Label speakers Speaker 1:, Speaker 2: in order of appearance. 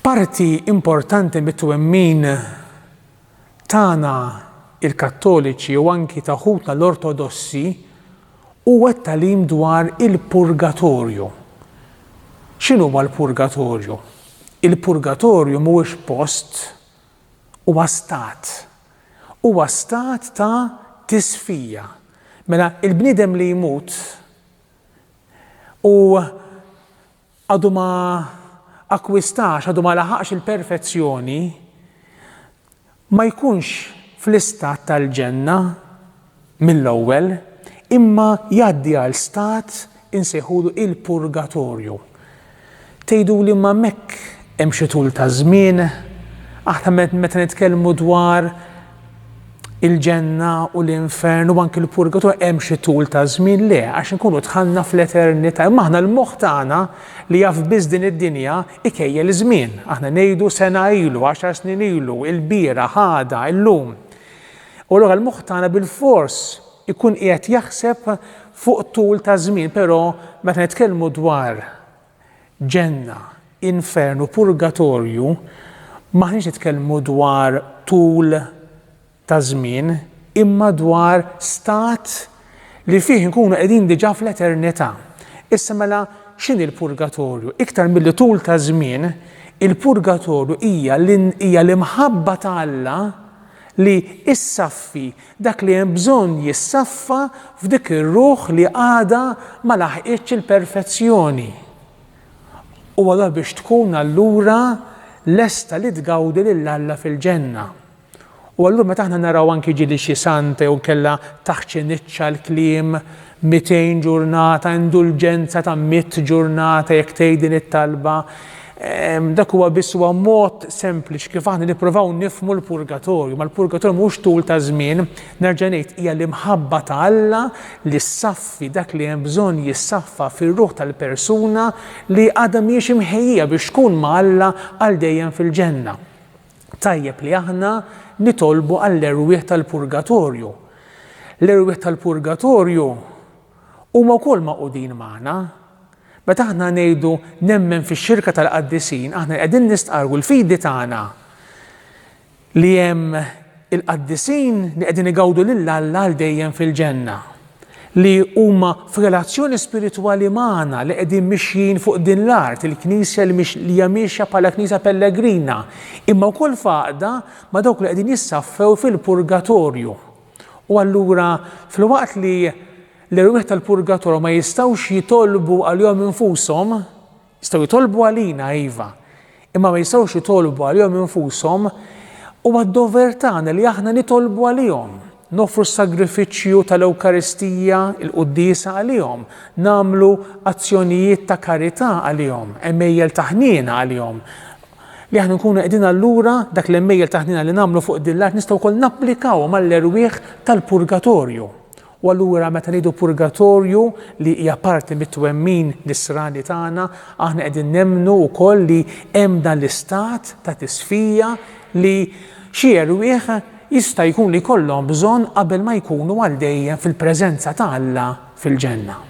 Speaker 1: Parti importanti mit-twemmin tagħna il-Kattoliċi u anki ta' ħutna l-Ortodossi huwa t-talim dwar il-purgatorju. X'inhu l-purgatorju? Il-purgatorju mhuwiex post huwa stat, huwa stat ta' tisfija. Mela il-bniedem li jmut u għadu ma akkwistax, għadu ma laħaqx il-perfezzjoni, ma jkunx fl-istat tal-ġenna, mill-ewwel, imma jgħaddi għal stat insejħulu il-purgatorju. Tgħiduli imma hemmhekk hemm xi tul ta' żmien? Aħna meta nitkellmu dwar il-ġenna u l-infern u anki l-purgatorju hemm xi tul ta' żmien le għax inkunu dħalna fl-eternità. Imma aħna l-moħħ tagħna li jaf biss din id-dinja ikejjel żmien. Aħna ngħidu sena ilu, għaxar snin ilu, il-bira, ħada, illum. U allura l-moħħ tagħna bilfors ikun qiegħed jaħseb fuq tul ta' żmien, però meta nitkellmu dwar ġenna, infern u purgatorju, m'aħniex nitkellmu dwar tul ta' żmien, imma dwar stat li fih inkunu qegħdin diġà fl-eternità. Issa mela x'inhi l-purgatorju? Iktar milli tul ta' żmien, il-purgatorju hija hija l-imħabba ta' Alla li issaffi dak li hemm bżonn jissaffa f'dik ir-ruħ li għadha ma laħqitx il-perfezzjoni. U allura biex tkun allura lesta li tgawdi lil Alla fil-ġenna. U allura meta aħna naraw anki ġieli xi santa jew inkella taħt xi niċċa l-kliem mitejn ġurnata, indulġenza ta' mitt ġurnata jekk tgħid din it-talba, dak huwa biss huwa mod sempliċi kif aħna nipprovaw nifhmu l-purgatorju. Ma l-purgatorju mhux tul ta' żmien, nerġa' ngħid hija l-imħabba ta' Alla li ssaffi dak li hemm bżonn jissaffa fir-ruħ tal-persuna li għadha mhijiex imħejjija biex tkun ma' Alla għal dejjem fil-ġenna. Tajjeb li aħna nitolbu għall-erwieħ tal-purgatorju. L-erwieħ tal-purgatorju huma wkoll magħqudin magħna. Meta aħna ngħidu nemmen fix-xirka tal-qaddisin, aħna qegħdin nistqarru l-fidi tagħna li hemm il-qaddisin li qegħdin igawdu lil Alla għal dejjem fil-ġenna. li huma f'relazzjoni spiritwali magħna li qegħdin mixjin fuq din l-art, il-Knisja li hija miexja bħala Knisja pellegrina, imma wkoll f'għaqda ma' dawk li qegħdin jissaffew fil-purgatorju. U allura filwaqt li l-erwieħ tal-purgatorju ma jistgħux jitolbu għalihom infushom, Jistgħu jitolbu għalina, iva, imma ma jistgħux jitolbu għalihom infushom. Huwa d-dover tagħna li aħna nitolbu għalihom, noffru s-sagrifiċċju tal-Ewkaristija, il-quddiesa għalihom, nagħmlu azzjonijiet ta' karità għalihom, għemejjel ta' ħniena għalihom. Li aħna nkunu qegħdin allura dak l-għemejjel ta' ħniena li nagħmlu fuq din l-art nistgħu wkoll napplikawhom għall-erwieħ tal-purgatorju. U allura meta ngħidu purgatorju li hija parti mit-twemmin Nisrani tagħna, aħna qegħdin nemmnu wkoll li hemm dan l-istat ta' tisfija li xi erwieħ jista' jkun li jkollhom bżonn qabel ma jkunu għal dejjem fil-preżenza ta' Alla fil-Ġenna.